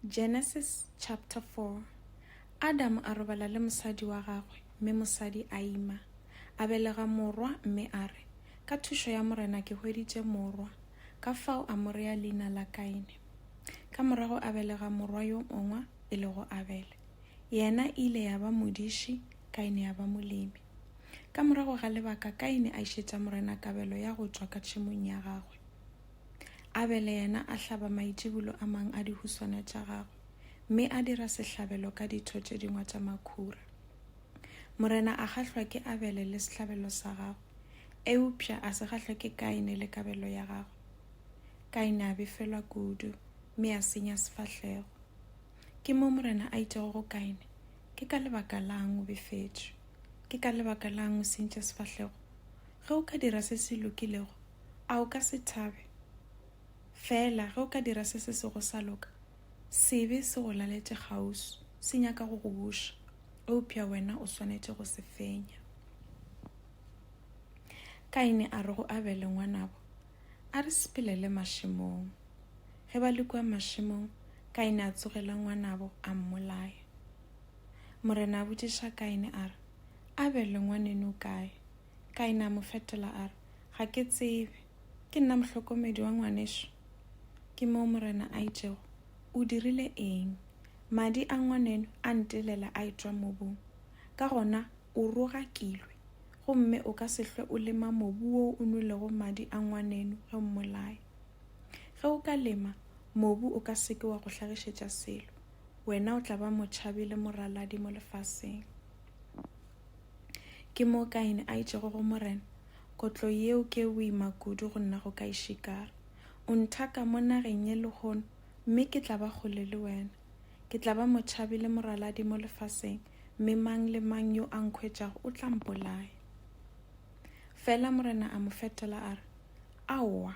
Genesis chapter 4 Adam a robala le mosadi wa gagwe, mme mosadi a ima. A belega morwa, mme a re, Ka thušo ya Morena ke hweditše morwa. Ka fao a mo rea leina la Kaine. Ka morago a belega morwa yo mongwa, e lego Abele. Yena e ile ya ba modiši, Kaine ya ba molemi. Ka morago ga lebaka Kaine a išetša Morena kabelo ya go tšwa ka tšhemong ya gagwe. Abele yena a hlaba maitšibulo a mang a dihuswana tša gagwe, mme a dira sehlabelo ka ditho tše dingwe tša makhura. Morena a gahlwa ke Abele le sehlabelo sa gagwe, eupša a se gahlwe ke Kaine le kabelo ya gagwe. Kaine a befelwa kudu, mme a senya sefahlego. Ke mo morena a itšego go Kaine, Ke ka lebaka lang o befetšwe? Ke ka lebaka lang o sentše sefahlego? Ge o ka dira se se lokilego, a o ka se thabe? Feela ge o ka dira se se sego sa loka, sebe se go laletše kgauswi, se nyaka go go buša, eupša wena o swanetše go se fenya. Kaine a re go Abele, Ngwanabo, a re sepelele mašemong. Ge ba le kua mašemong, Kaine a tsogela ngwanabo a mmolaya. Morena a botšiša Kaine a re, Abele, ngwaneno, o kae? Kaine a mo fetola a re, Ga ke tsebe. Ke nna mohlokomedi wa ngwanešu? Ke moo Morena a itšego, O dirile eng? Madi a ngwaneno a ntelela a etšwa mobung. Ka gona o rogakilwe, gomme o ka se hlwe o lema mobu wo o nwelego madi a ngwaneno ge o mmolaya. Ge o ka lema, mobu o ka se ke wa go hlagišetša selo. Wena o tla ba motšhabi le moraladi mo lefaseng. Ke moo Kaine a itšego go Morena, Kotlo yeo ke e boima kudu go nna go ka e šikara. O nthaka mo nageng ye lehono, mme ke tla ba kgole le wena. Ke tla ba motšhabi le moraladi mo lefaseng, mme mang le mang yo a nkhwetšago o tla mpolaya. Fela Morena a mo fetola a re, Aowa!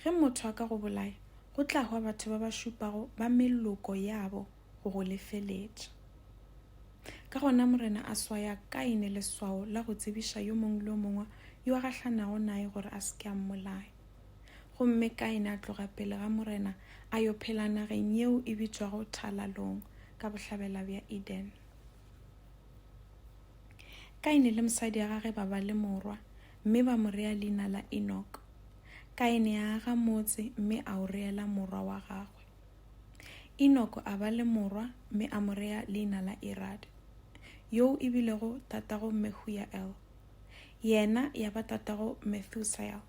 Ge motho a ka go bolaya, go tla hwa batho ba ba šupago ba meloko yabo, go go lefeletša. Ka gona Morena a swaya Kaine leswao la go tsebiša yo mongwe le yo mongwe yo a gahlanago naye gore a se ke a mmolaya. Gomme Kaine a tloga pele ga Morena a yo phela nageng yeo e bitšwago Thalalong ka bohlabela bja Eden. Kaine le mosadi ya gage ba ba le morwa, mme ba mo rea leina la Enoch. Kaine a aga motse mme a o reela morwa wa gagwe. Enoko a ba le morwa mme a mo rea leina la Irad, yoo e bilego tatago Mehuyael, yena ya ba tatago Methusael,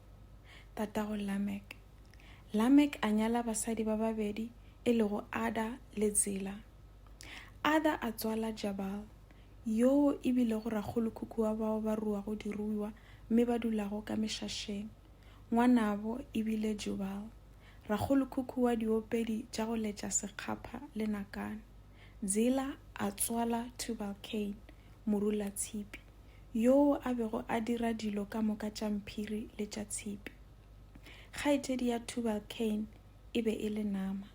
tatago Lamek. Lamek a nyala basadi ba babedi e lego Ada le Zila. Ada a tswala Jabal, yoo e bilego rakgolokhukhu wa bao ba ruago diruiwa mme ba dulago ka mešašeng, ngwanabo e bile Jubal, Rakgolokhukhu wa diopedi tša go letša sekgapha le nakane, Zila a tswala Tubalcain, morulatshipi, yoo a bego a dira dilo ka moka tša mphiri le tša tshipi. Kgaetšedi ya Tubalcain e be e le Naama.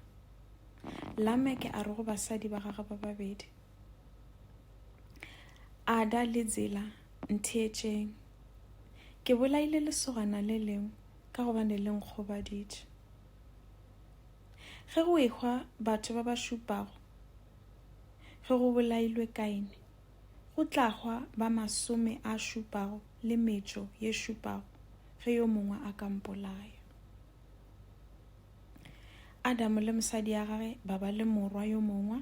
Lameke a re go basadi ba gagwe ba babedi, Ada le Zila, Ntheetšeng. Ke bolaile lesogana le lengwe. ka gobane le nkgobaditše. Ge go ehwa batho ba ba šupago ge go bolailwe Kaine, go tla hwa ba masome a šupago le metšo ye šupago ge yo mongwe a ka mpolaya. Adamo le mosadi ya gage ba ba le morwa yo mongwe,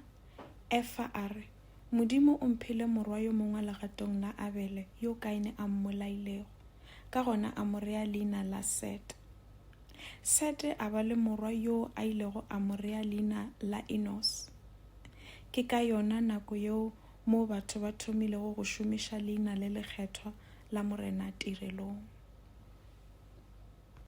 Efa a re, Modimo o mphile morwa yo mongwe legatong la Abele yo Kaine a mmolailego. Ka gona a mo rea leina la Sete. Sete a ba le morwa yo a ilego a mo rea leina la Enos. Ke ka yona nako yeo moo batho ba thomilego go šomiša leina le lekgethwa la Morena tirelong.